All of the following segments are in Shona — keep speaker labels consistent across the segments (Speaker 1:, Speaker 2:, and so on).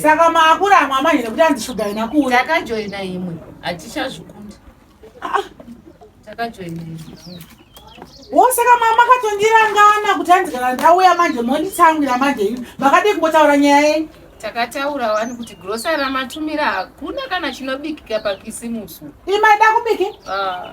Speaker 1: saka maakura amwe amai
Speaker 2: nekuti andishuga ina kuuya takajoina imwe
Speaker 1: hatichazvikunda ah, ah. takajoina imwe wosaka
Speaker 2: mama makatondirangana kuti hanzi kana ndauya manje monditsamwira manje imi makadii kumbotaura nyaya yenyu takataura wani
Speaker 1: kuti grosa ramatumira hakuna kana chinobikika pakisimusu imaida kubiki
Speaker 2: ah.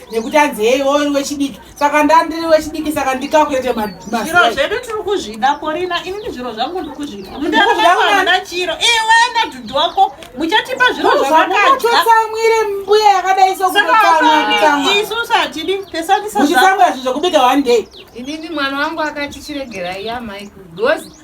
Speaker 2: nekuti anzi hei wo uri wechidiki saka ndandiri wechidiki saka ndikakurete zviro zvedu
Speaker 3: tiri kuzvida korina ini ndi zviro zvangu ndiri kuzvida mundaana chiro iwe nadhudhu wako muchatipa zviro zvakatsamwire
Speaker 2: mbuya yakadai sokuisus hatidi
Speaker 3: pesanisauchitsamwira zvinhu zvekubika
Speaker 2: one day inini mwana wangu
Speaker 1: akati chiregerai amai kugozi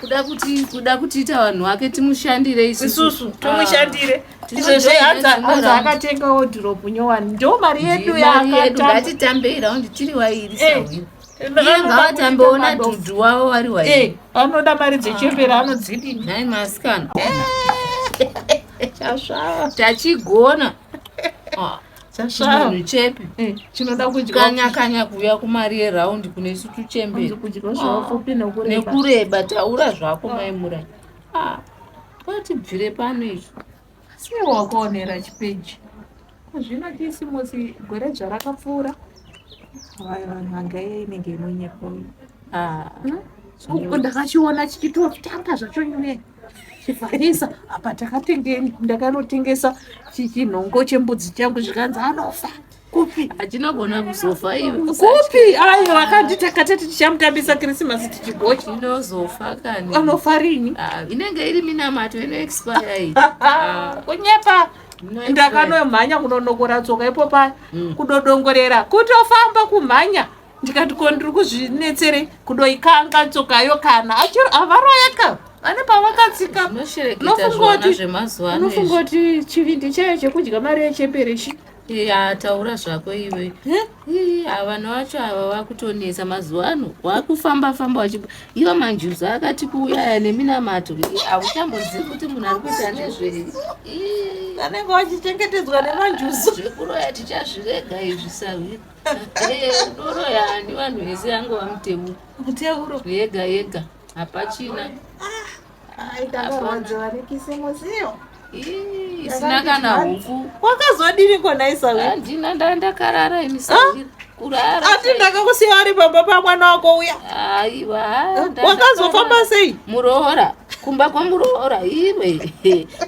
Speaker 3: kuda kuti kuda
Speaker 1: kutiita vanhu vake timushandire isusu
Speaker 3: timushandire izvezveanza akatenga wodhiropu nyowani ndo mari yedu yakatambei raundi
Speaker 1: tiri wairi iye ngavatambe ona dhudhu wavo vari wairi anoda mari
Speaker 3: dzechembera anodzidi nai
Speaker 1: masikana tachigona chasvava chepi eh, chinoda kudyakanya
Speaker 3: kanya kuuya
Speaker 1: kumari yeraundi kune isu tuchemberi nekureba taura zvako maimura ah, kwatibvire pano izvo sei
Speaker 3: wakaonera chipeji zvino tisi musi gore dzva rakapfuura vanhu vanga iye inenge inonyepa uyu ah. hmm? uku ndakachiona chichitotanga zvacho nyuye chivharisa apa takatengeni ndakanotengesa chinhongo chembudzi changu zvikanzi anofa kupi achinogona kuzofa
Speaker 1: iwe kupi ayo
Speaker 3: akanditi akatati tichamutambisa krisimasi tichigochi inozofa kani
Speaker 1: anofa rini ah,
Speaker 3: inenge iri
Speaker 1: minamato inoexpire iyi ah. kunyepa
Speaker 3: ndakanomhanya kunonokora tsoka ipo paya mm. kudodongorera kutofamba kumhanya ndikati ko ndiri kuzvinetserei kudoikanga tsokayo kana achiro avaroyaka vane pavakatsika unofunga kuti chivindi chayo chekudya mari yechembere chi ya taura
Speaker 1: zvako iwe vanhu vacho ava vakutonetsa mazuva ano wakufamba famba wachi iva manjuzu akati kuuyaya neminamato hauchambozivi kuti munhu ari kuita nezvei
Speaker 3: vanenge vachichengetedzwa nemanjuzu zvekuroya
Speaker 1: tichazvirega izvi sahwiri Eh, doro yani vanhu vese yango vamutemo muteuro yega yega hapachina isina kana huku wakazodini
Speaker 3: konaisaandina nda ndakarara
Speaker 1: inisandira kurara ati ndakakusiya
Speaker 3: ari pamba pamwana wako uya aiwa
Speaker 1: wakazofamba
Speaker 3: sei muroora
Speaker 1: kumba kwamuroora iwe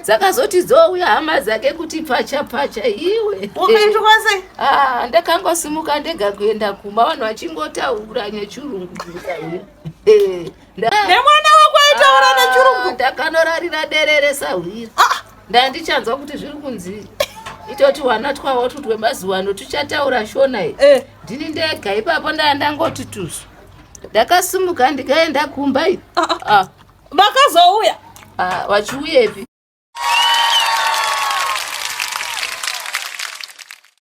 Speaker 1: dzakazoti dzouya hama dzake kuti pfacha pfacha iwe ukaitwase
Speaker 3: ah, ndakangosimuka
Speaker 1: ndega kuenda kumba vanhu vachingotaura nechirungu
Speaker 3: nemwana wako aitaura ah, nechirungu ndakanorarira
Speaker 1: derere sahwira ah. ndandichanzwa kuti zviri kunzii itoti wana twawo tutwemazuva ano tuchataura shona i eh. ndini ndega ipapo ndaa ndangoti tusu ndakasimuka ndikaenda kumba iyi ah, ah. ah.
Speaker 3: vakazouya ah,
Speaker 1: vachiuyepi